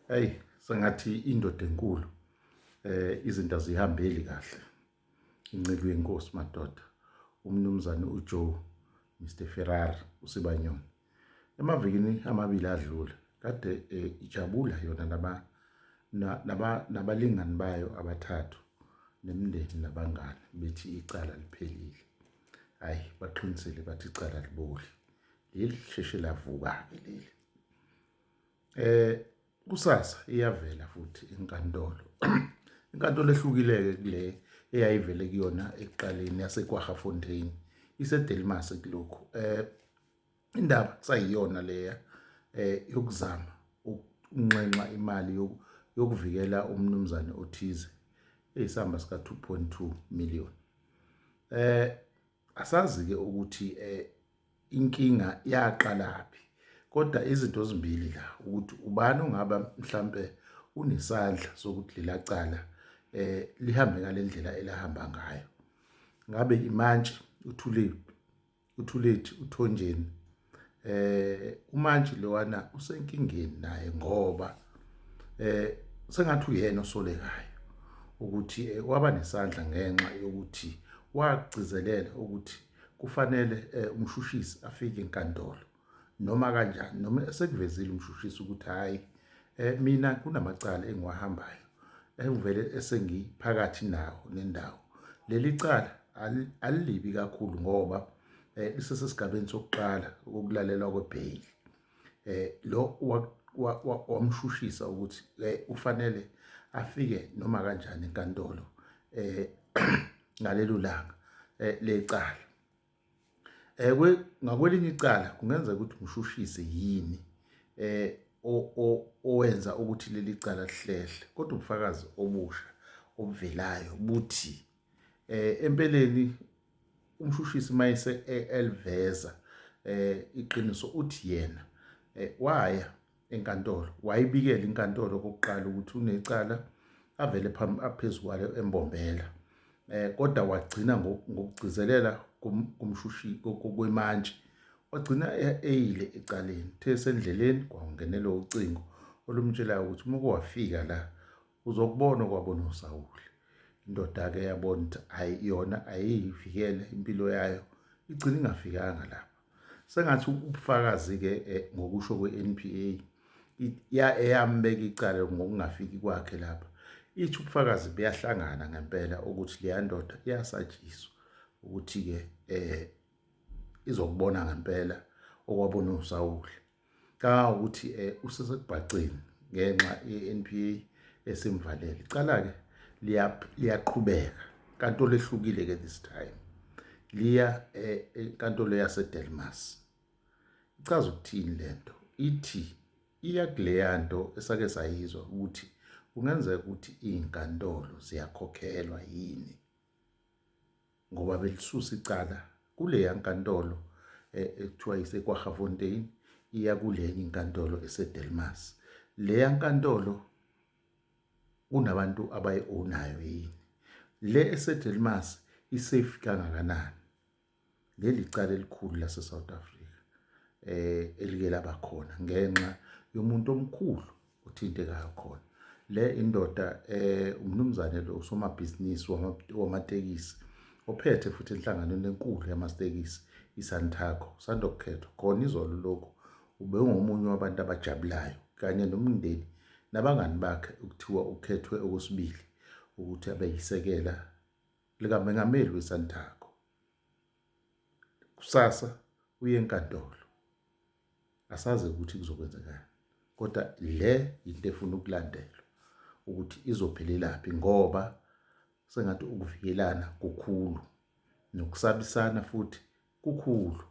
hey sengathi indoda enkulu eh izinto azihambeli kahle inceke yenkosi madoda umnumzane uJoe Mr Ferrari usibanyoni emavikini amabili adlule kade eh, ijabula yona laba laba nabalingani bayo abathathu nemndeni nabangani bethi icala liphelile hayi baqinisele bathi icala liboli leli sheshe lavuka ke leli eh kusasa iyavela futhi inkantolo inkantolo ehlukileke kule eyayivele kuyona ekuqaleni yaseKwaGafontein iseDelmas kulokhu eh indaba kusayiyona leya eh yokuzama ukunxenxa imali yokuvikela umnumzane othize eyisamba sika 2.2 million eh asazi ke ukuthi eh inkinga yaqalaphi kodwa izinto ezimbili la ukuthi ubani ongaba mhlambe unesandla sokuthi lela cala eh lihambe ngalendlela elahamba ngayo ngabe imantshi uthulile uthulethi uthonjeni eh umantshi lowana usenkingeni naye ngoba eh sengathi uyena osolekayo ukuthi eh, waba nesandla ngenxa yokuthi wagcizelela ukuthi kufanele eh, umshushisi afike enkantolo noma kanjani noma esekuvezile umshushisi ukuthi hayi eh, mina kunamacala engiwahambayo engivele esengiphakathi nawo nendawo leli cala alilibi kakhulu ngoba eh isesesigabeni sokuqala ukulalelwa kwebail eh lo wamshushisa ukuthi eh, ufanele afike noma kanjani enkantolo eh ngalelo langa eh, lecala eh ngakwelinye icala kungenzeka ukuthi umshushise yini eh owenza ukuthi leli cala lihlehle kodwa ubufakazi obusha obuvelayo buthi eh empeleni umshushisi mayese e-, elveza eh iqiniso uthi yena eh, waya enkantolo wayibikela inkantolo kokuqala ukuthi unecala avele phambi aphezukwalo embombela eh kodwa wagcina ngokugcizelela kumshushi kokwemantshi wagcina e-, eyile ecaleni the sendleleni kwangenela ucingo olumtshelayo ukuthi uma kuwafika la uzokubona kwabo nosawule indoda-ke yabona ukuthi ayi yona ayiyivikele impilo yayo igcina ingafikanga lapha sengathi ubufakazi-ke eh, ngokusho kwe-n p a eyambeka icala ngokungafiki kwakhe lapha ithi ubufakazi buyahlangana ngempela ukuthi leya ndoda iyasatshiswa ukuthi-ke um izokubona ngempela okwabona usawule Canga ukuthi eh, usesekubhaceni ngenxa ye-NPA esimvalele. Icala-ke liyaqhubeka inkantolo ehlukile-ke this time liya eh, enkantolo yasedelmas ichaza ukuthini le nto ithi iya kuleya nto esake sayizwa ukuthi kungenzeka ukuthi iy'nkantolo ziyakhokhelwa yini ngoba belisusa icala kuleya nkantolo eh, ekuthiwa isekwahafontein iya kulenye inkantolo esedelmas leya nkantolo kunabantu abayi-ownayo yini le esedelmas isafe kangakanani leli cala elikhulu lasesouth africa um elike laba khona ngenxa yomuntu omkhulu othintekayo khona le indoda eh umnumzane lo usomabhizinisi wamatekisi ophethe futhi enhlanganweni enkulu yamatekisi iSantaco usanda kukhethwa khona izolo lokhu ube ungomunye wabantu abajabulayo kanye nomndeni nabangani bakhe ukuthiwa ukhethwe okwesibili ukuthi abe yisekela likamengameli weSantaco kusasa uye enkantolo asazi ukuthi kuzokwenzekani kodwa le yinto efuna ukulandelwa ukuthi izophelelaphi ngoba sengathi ukuvikelana kukhulu nokusabisana futhi kukhulu